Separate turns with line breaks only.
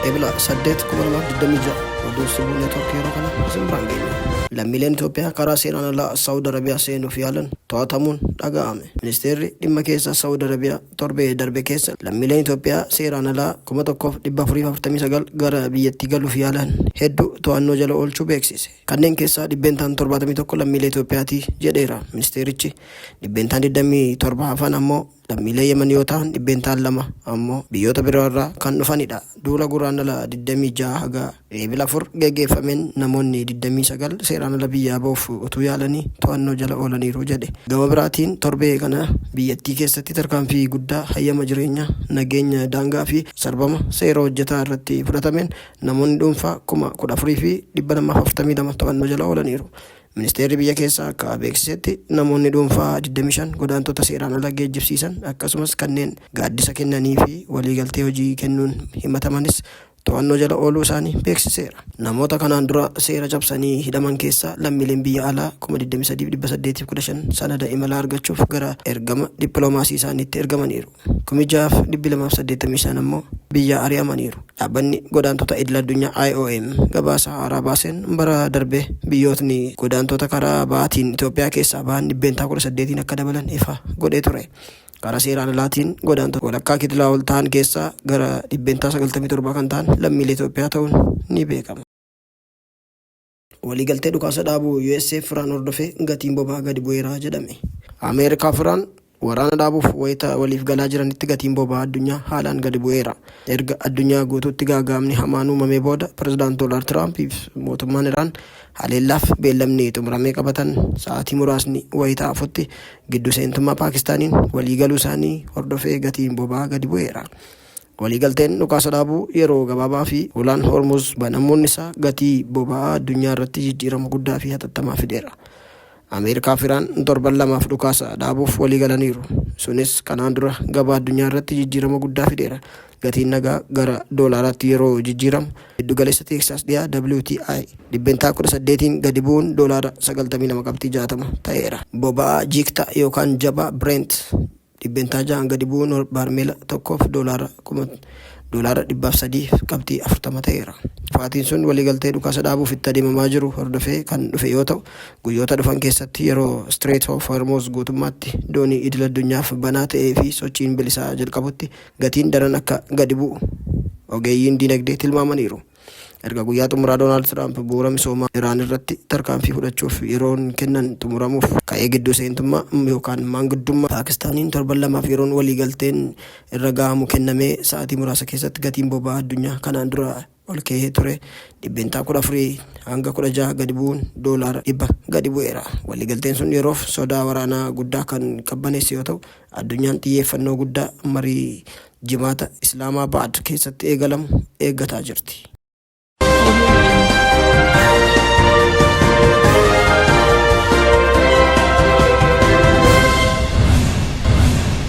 Ebila 8,2026 oduu sibuu neetwoorkii yeroo kana isin biraan geenya. Lammiileen Itoophiyaa karaa seeraan alaa Saawud Arabiyaa seenuuf yaalan to'atamuun dhaga'ame. Ministeerri dhimma keessaa Saawud Arabiyaa torbee darbe keessa lammiileen Itoophiyaa seeraan alaa 1,449 gara biyyattii galuuf yaalan hedduu to'annoo jala oolchuu beeksise. Kanneen keessaa dhibbeentaan 71 lammiilee Itoophiyaati jedheera ministeerichi. Dhibbeentaan 27 hafan ammoo lammiilee Yemen yoo ta'an dhibbeentaan lama ammoo biyyoota biroo irraa kan dhufanidha. Duula Guraandhala 26 haga Eebila 4 geggeeffameen namoonni 29 seeraan ala biyyaa ba'uuf utuu yaalanii to'annoo jala oolaniiru jedhe. Gama biraatiin torbee kana biyyattii keessatti tarkaanfii guddaa hayyama jireenyaa, nageenya daangaa fi sarbama seera hojjetaa irratti fudhatameen Namoonni dhuunfaa kuma 14 fi 242 to'annoo jala oolaniiru. Ministeerri biyya keessaa akka beeksisetti namoonni dhuunfaa 25 godaantota seeraan ala geejjibsiisan akkasumas kanneen gaaddisa kennanii fi waliigaltee hojii kennuun himatamanis to'annoo jala ooluu isaanii beeksiseera. Namoota kanaan dura seera cabsanii hidhaman keessaa lammiileen biyya alaa kuma 23 fi 815 sanada imalaa argachuuf gara ergama dippiloomaasii isaaniitti ergamaniiru. 6,285 ammoo biyyaa ari'amaniiru. Dhaabbanni Godaantota Idil-addunyaa IOM gabaasa haaraa baaseen bara darbe biyyootni godaantota karaa ba'aatiin Itoophiyaa keessaa bahan dhibbeentaa 18n akka dabalan ifa godhee ture. Karaa seeraan alaatiin godaantota walakkaa kitilaa ol ta'an keessaa gara dhibbeentaa 97 kan ta'an lammiilee Itoophiyaa ta'uun ni beekama. Waliigaltee dhukaasa dhaabuu US'f Iraan hordofee gatiin boba'aa gadi bu'eera jedhame. Ameerikaa fi Iraan waraana dhaabuuf wayita waliif galaa jiranitti gatiin boba'aa addunyaa haalaan gadi bu'eera. Erga addunyaa guutuutti gaaga'amni hamaan uumamee booda Pireezidaant Doonaald Tiraamp fi mootummaan Iraan haleellaaf beellamni xumuramee qabatan sa'aatii muraasni wayita hafutti giddu seentummaa Paakistaaniin waliigaluu isaanii hordofee gatiin boba'aa gadi bu'eera. Waliigalteen dhukaasa dhaabuu yeroo gabaabaa fi hulaan Hormuz banamuun isaa gatii boba'aa addunyaa irratti jijjiirama guddaa fi hatattamaa fideera. Ameerikaa fi Iraan torban lamaaf dhukaasa dhaabuuf waliigalaniiru. Sunis kanaan dura gabaa addunyaa irratti jijjiirama guddaa fideera. Gatiin nagaa gara doolaaraatti yeroo jijjiiramu giddugaleessa Teeksaas dhiyaa WTI dhibbentaa 18n gadi bu'uun doolaara 92 qabxii 60 ta'eera. Boba'aa jiiktaa yookaan jabaa Brent dhibbentaa 6n gadi bu'uun baarmeela tokkoof doolaara kuma doolaara 300 qabxii 40 ta'eera. Kufaatiin sun waliigaltee dhukaasa dhaabuuf itti adeemamaa jiru hordofee kan dhufe yoo ta'u, guyyoota dhufan keessatti yeroo Strait of Hormuz guutummaatti doonii idil addunyaaf banaa ta'ee fi sochiin bilisaa jalqabutti gatiin daran akka gadi bu'u ogeeyyiin diinagdee tilmaamaniiru. Erga guyyaa xumuraa Doonaald Tiraamp bu'uura misoomaa Iraan irratti tarkaanfii fudhachuuf yeroon kennan xumuramuuf ka'ee gidduu seentummaa yookaan maanguddummaa Paakistaaniin torban lamaaf yeroon waliigalteen irra gahamu kennamee sa'aatii muraasa keessatti gatiin boba'aa addunyaa kanaan dura olka'ee ture dhibbeentaa 14 hanga 16 gadi bu'uun doolaara 100 gadi bu'eera. Waliigalteen sun yeroof sodaa waraanaa guddaa kan qabbaneesse yoo ta'u, Addunyaan xiyyeeffannoo guddaa marii Jimaata Islaamaabaad keessatti eegalamu eeggataa jirti.